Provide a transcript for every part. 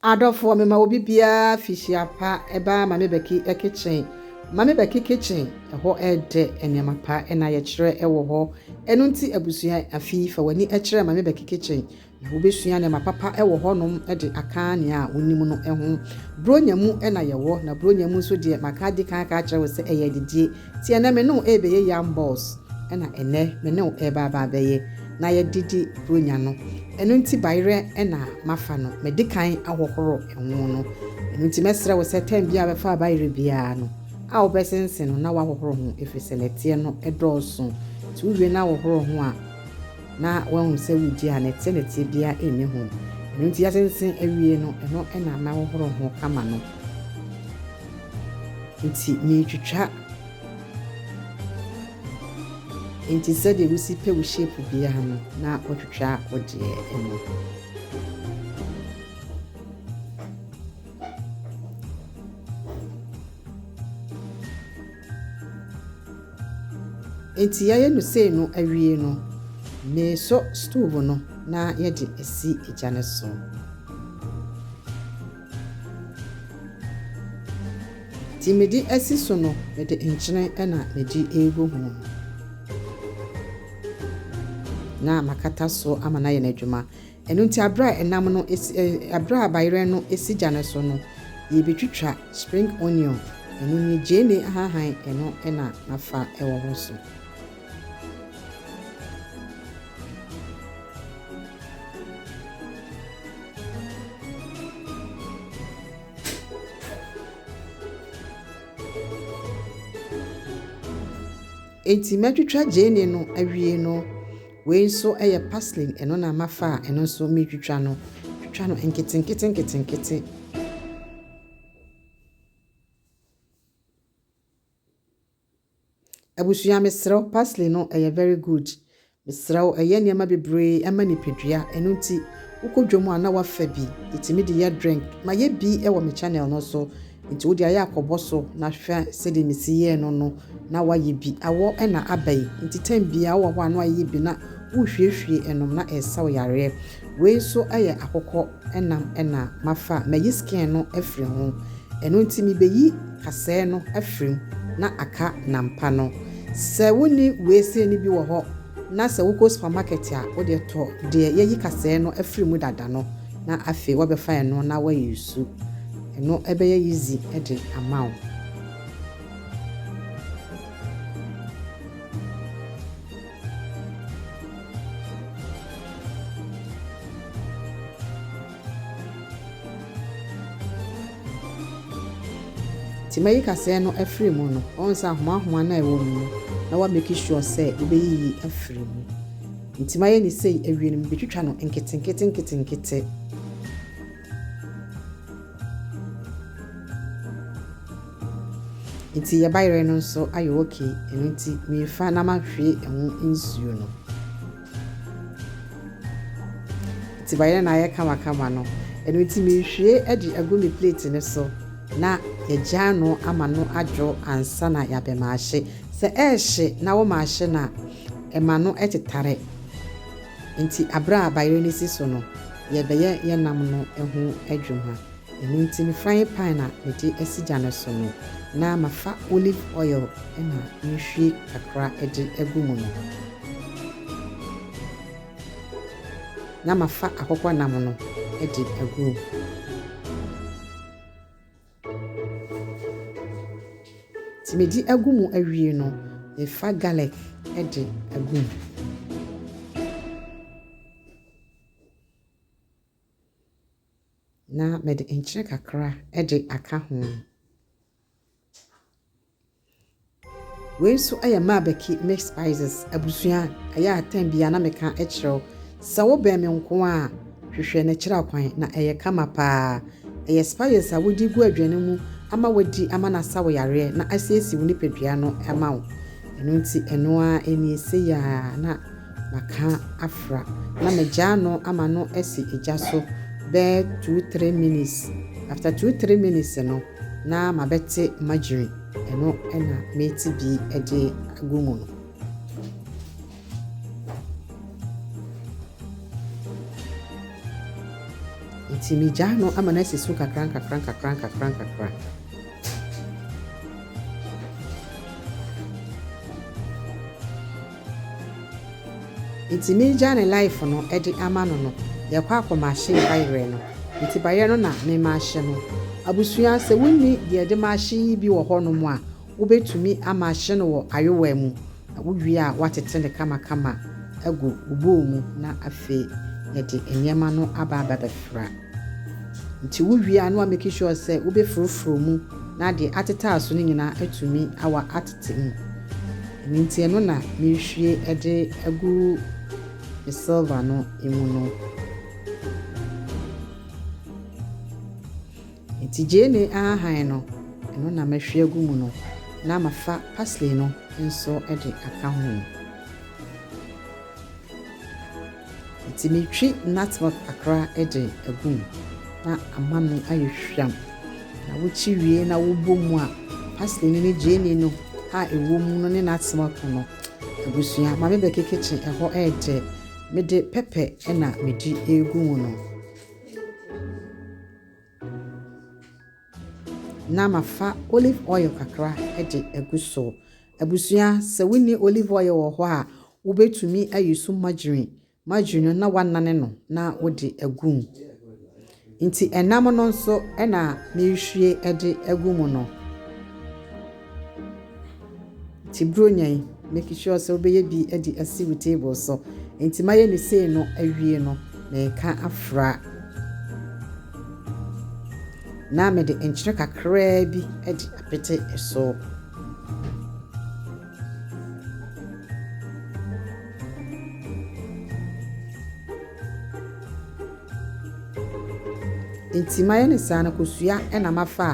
Adɔfoɔ me ma obi biara fihyia pa ɛbaa Mame Becky kitchen Mame Becky kitchen ɛhɔ ɛdɛ nneɛma pa na yɛkyerɛ ɛwɔ hɔ ɛno nti abusua afi fa w'ani ɛkyerɛ Mame Becky kitchen na wobɛsua nneɛma papa ɛwɔ hɔ nom ɛde aka nea wonim no ɛho Buronya mu ɛna yɛwɔ na Buronya mu nso deɛ maka adi kan aka akyerɛ wo sɛ ɛyɛ adidie Teɛ nɛ me ne wo ɛɛbɛyɛ yam balls ɛna ɛnɛ me ne wo ɛɛba aba abɛyɛ na yɛ de di bronya no ɛno nti bayerɛ ɛna mafa no mɛ de kan ahohoro ɛho no ɛno nti mɛ srɛ wo sɛ time biaa wobɛfa abayerɛ biaa no a wo bɛ sensen no na woahohoro ho ɛfiri sɛ nɛteɛ no ɛdɔɔso nti wo wie na wohoro ho a na woahu sɛ wugye a, na ɛte ne tebea nni ho. Ɛno nti asensen awiei no, ɛno na na wohoro ho kama no. Enti meretwitwa. Enti sɛdeɛ wosi pɛ wo shape biara no, na wotwitwa wo deɛ no. Enti yɛayɛ no sei no awie no, meresɔ stove no na yɛde asi gya no so. Nti mede asi so no, mede nkyene na mede regu ho. Na makata so ama no ayɛ n'adwuma. Ɛno nti aberɛ a ɛnam no si ɛ aberɛ a bayerɛ no si gya no so no, yɛbɛtwitwa spring onion, ɛno nie, gyeene ahahan ɛno na nafa wɔ hɔ so. Enti matwitwa gyeene no awie no, Wei nso yɛ parsley, ɛno na mafa a ɛno nso meretwitwa no. Twitwa no nketenkete nketenkete. Abusua mesrɛ wo parsley no ɛyɛ very good. Mesrɛ wo ɛyɛ nneɛma bebree ɛma nipadua ɛno nti wokɔ dwom a na wafa bi ɛtumi de yɛ drink. Mayɛ bi ɛwɔ me channel no so Nti wode ayɛ akɔbɔ so na hwɛ sɛdeɛ mesi yɛɛ no no na woayɛ bi. Awɔ na aba yi nti time biara wowɔ hɔ a na woayɛ bi na wohwiehwie ɛnom na ɛresa wo yareɛ. Wei nso yɛ akokɔ nam na mafa a mayi skin no afiri ho. Ɛno nti mebɛyi kasɛɛ no afiri mu na aka nam pa no. Sɛ wonni wei sei no bi wɔ hɔ na sɛ wokɔ supermarket a wodeɛ tɔ deɛ yɛayi kasɛɛ no afiri mu dada no na afei woabɛfa ɛno na woayusu. Eno bɛyɛ easy de ama wo. Nti mɛyi kaseɛ no afiri mu no, wahu sɛ ahoma ahoma no a ɛwɔ mu no na wa make sure sɛ wobɛyiyi afiri mu. Nti mayɛ no sei, awie no mebɛtwitwa no nkete nkete nkete nkete. Nti yɛ bayerɛ no nso ayɛ ok ɛno nti mefa na mahwie ɛho nsuo no nti bayerɛ no ayɛ kamakama no ɛno nti mehwie de agu me plate no so na yɛgyaa no ama no adwo ansa na yɛabɛ maahye sɛ ɛrehye na wo maahye na ɛma no ɛtetare Enti bere a bayerɛ no si so no, yɛrebɛyɛ yɛn nam no ho adwuma. Ɛno nti me frying pan a mede asi gya no so no, na mafa olive oil na nhwie kakra de agu mu no, na mafa akokɔnam no de agu mu. Sɛ medi agu mu awie no, mefa garlic de agu mu. Na mede nkyene kakra de aka ho. Wei nso yɛ Mabeki Mixed Spices abusua a ɛyɛ atɛn bi a na meka kyerɛ wo sɛ wobɛn me nko ara a, hwehwɛ na kyerɛ kwan, na ɛyɛ kama pa ara. Ɛyɛ spices a wode gu aduane mu ama woadi ama no asa wo yareɛ na asiesie wo nipadua no ama wo. Ɛno nti ɛno ara nie, sei ara na. Maka afra na magyaa no ama no asi gya so bɛyɛ two three minutes after two three minutes no na mabɛte margarine ɛno na meti bi de agu mu no. Nti megyaa no ama no asi so kakra nkakra nkakra nkakra nkakra. Nti me gya ne life no de ama no no yɛ kɔ akɔ machine ba yerɛ no nti ba yerɛ no na me machine no abusua sɛ wo nni deɛ de machine yi bi wɔ hɔ nom a wo bɛ tumi a machine wɔ ayowaa mu na wo wie a wa tete no kama kama agu wo bowl mu na afei yɛ de nneɛma no aba aba bɛ fra. Nti wo wie a na wa make sure sɛ wo bɛ foro foro mu na deɛ atetaa so no nyinaa atumi awa atete mu. Ɛno nti ɛno na me rehwie ɛde agu me silver no mu no. Nti gyeene ahahan no ɛno na mɛhwie agu mu no na ma fa parsley no nso ɛde aka ho. Enti metwi nutmeg kakra de agu mu na ama no ayɛ hwam. Na wokyi wie na wobɔ mu a, parsley no ne gyeene no a ɛwɔ mu no ne nutmeg no, abusua, ma me bɛke kitchen ɛhɔ yɛ dɛ. Mede pɛpɛ na medi regu mu no. Na mafa olive oil kakra de agu so. Abusua, sɛ wonni olive oil wɔ hɔ a, wubetumi ayi so margarine, margarine no, na woanane no na wode agu mu. Enti ɛnam no nso na merehwie de agu mu no. Enti buronya yi, make sure sɛ wobɛyɛ bi de asi wo table so. Enti mayɛ no sei no awie no, mereka afra. Na mede nkyene kakraa bi de apete so. Nti mayɛ no saa no kosua na mafa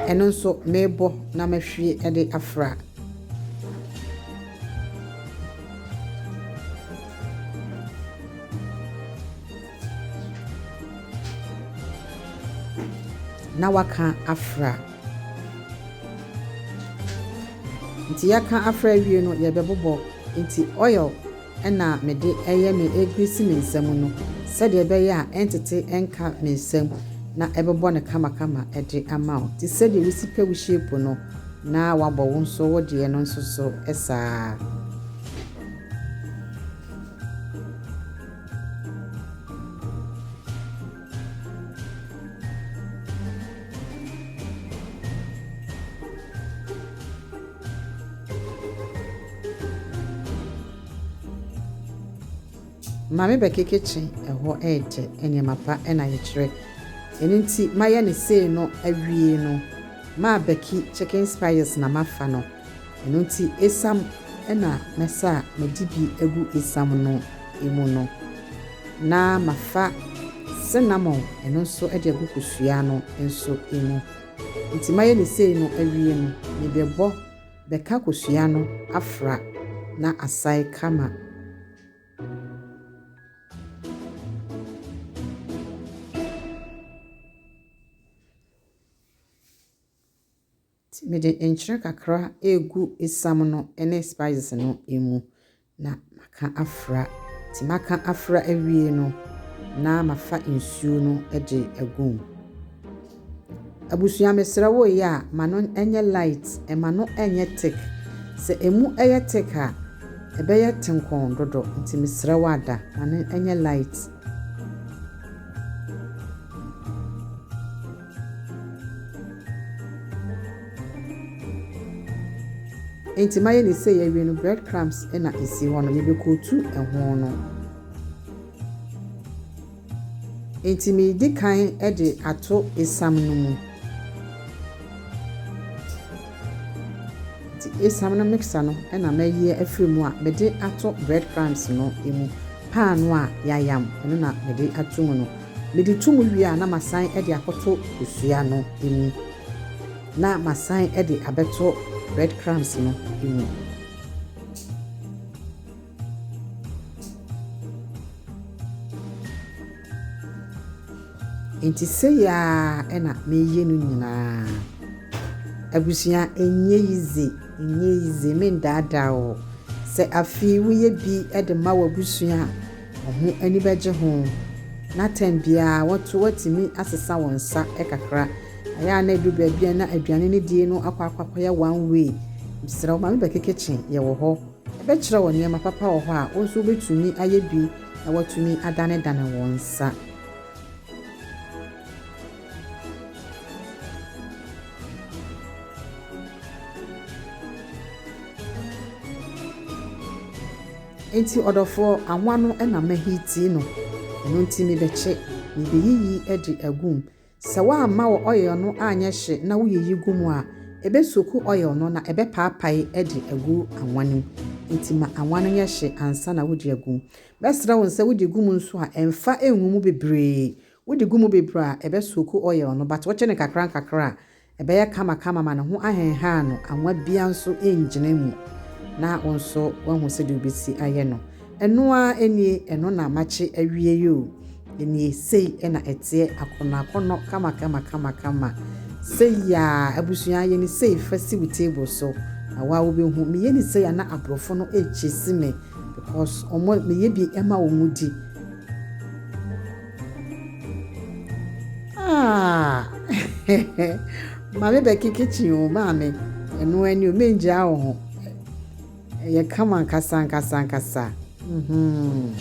a ɛno nso mebɔ na mahwie de afra. Na waka afra. Nti yɛka afra awie no yɛbɛbobɔ nti oil na mede yɛ me ɛgrisi me nsa mu no sɛdeɛ ɛbɛyɛ a ɛntete nka me nsa mu na ɛbɛbɔ no kamakama de ama wo nti sɛdeɛ wosi pɛ wo shape no na wabɔ wo nso wo deɛ no nso so saa. Maame bɛkekekye ɛhɔ ɛɛtɛ nneɛma pa ɛna yɛkyerɛ ɛno nti mayɛ ne sei no awie no maa bɛki chicken spiers na mafa no. Ɛno nti esiam na mɛsa a madi bi agu esiam no mu no, na mafa sinamon, ɛno nso de agu kosua no nso mu. Enti mayɛ no sei no awie no, mebɛbɔ bɛka kosua no afra na asae kama. Nti mede nkyene kakra regu esiam no ne spices no mu na maka afra. Nti maka afra awie no na mafa nsuo no de agu mu. Abusua mesrɛ wo yɛ a ma no nyɛ light, ma no nyɛ thick. Sɛ ɛmu yɛ thick a, ɛbɛyɛ tenkɔn dodo. Nti mesrɛ wo ada, ma no nyɛ light. Enti mayɛ no sei awie no bread crumbs na esi hɔ no mebɛkootu ɛho no. Enti medi kan de ato esam no mu. Nti esam no mixer no na mɛyɛ afiri mu a mede ato bread crumbs no mu. Paano a yayam ɛno na mede ato mu no. Mede to mu wie a na masan de akɔto kosua no mu na masan de abɛto bread crumbs no mu. Enti sei ara na meyɛ no nyinaa. Abusua, ɛnyɛ yize, ɛnyɛ yize, mendaadaa o. Sɛ afei woyɛ bi de ma w'abusua a, Wɔn ani bɛgye ho, na tɛm biara wɔto wɔatumi asesa wɔn nsa kakra. Ayɛ a na ɛduru baabi a na aduane no die no akɔ akɔ akɔyɛ one way. Mesrɛ wo, ma me bɛke kitchen, yɛwɔ hɔ. Mɛkyerɛ wo nneɛma papa wɔ hɔ a wo nso wobɛtumi ayɛ bi na woatumi adanedane wo nsa. Enti ɔdɔfoɔ, awa no na mahitii no, ɛno nti mebɛkye, mebeyiyi de agu mu. Sɛ woamma wɔ oil no anyɛ hye na woyiyi gu mu a, ɛbɛsoku oil no na ɛbɛpaapae de agu awa no mu. Enti ma awa no nyɛ hye ansa na wode agu mu. Mɛsrɛ wo sɛ wode gu mu nso a, mfa ngu mu bebree. Wode gu mu bebree a, ɛbɛsoku oil no, but wokye no nkakrankakra a, Ɛbɛyɛ kama kama ma ne ho ahenhan no, anwa biara nso rengyina mu, na wo nso woahu sɛdeɛ wobɛsi ayɛ no. Ɛno ara nie, ɛno na makye awie yi o, nie, sei na ɛteɛ, akɔnnɔ akɔnnɔ, kama kama kama kama, sei aa, abusua yɛ no sei, fa si wo table so, na wo ara wobɛhu, meyɛ no sei a na aborɔfo no rechase me because wɔn, meyɛ bi ma wɔn di. Ah, maame bɛ kekekye o maame ɛno ɛni o mengya wo ho ɛyɛ kama nkasa nkasa nkasa mm-hmm.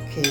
okay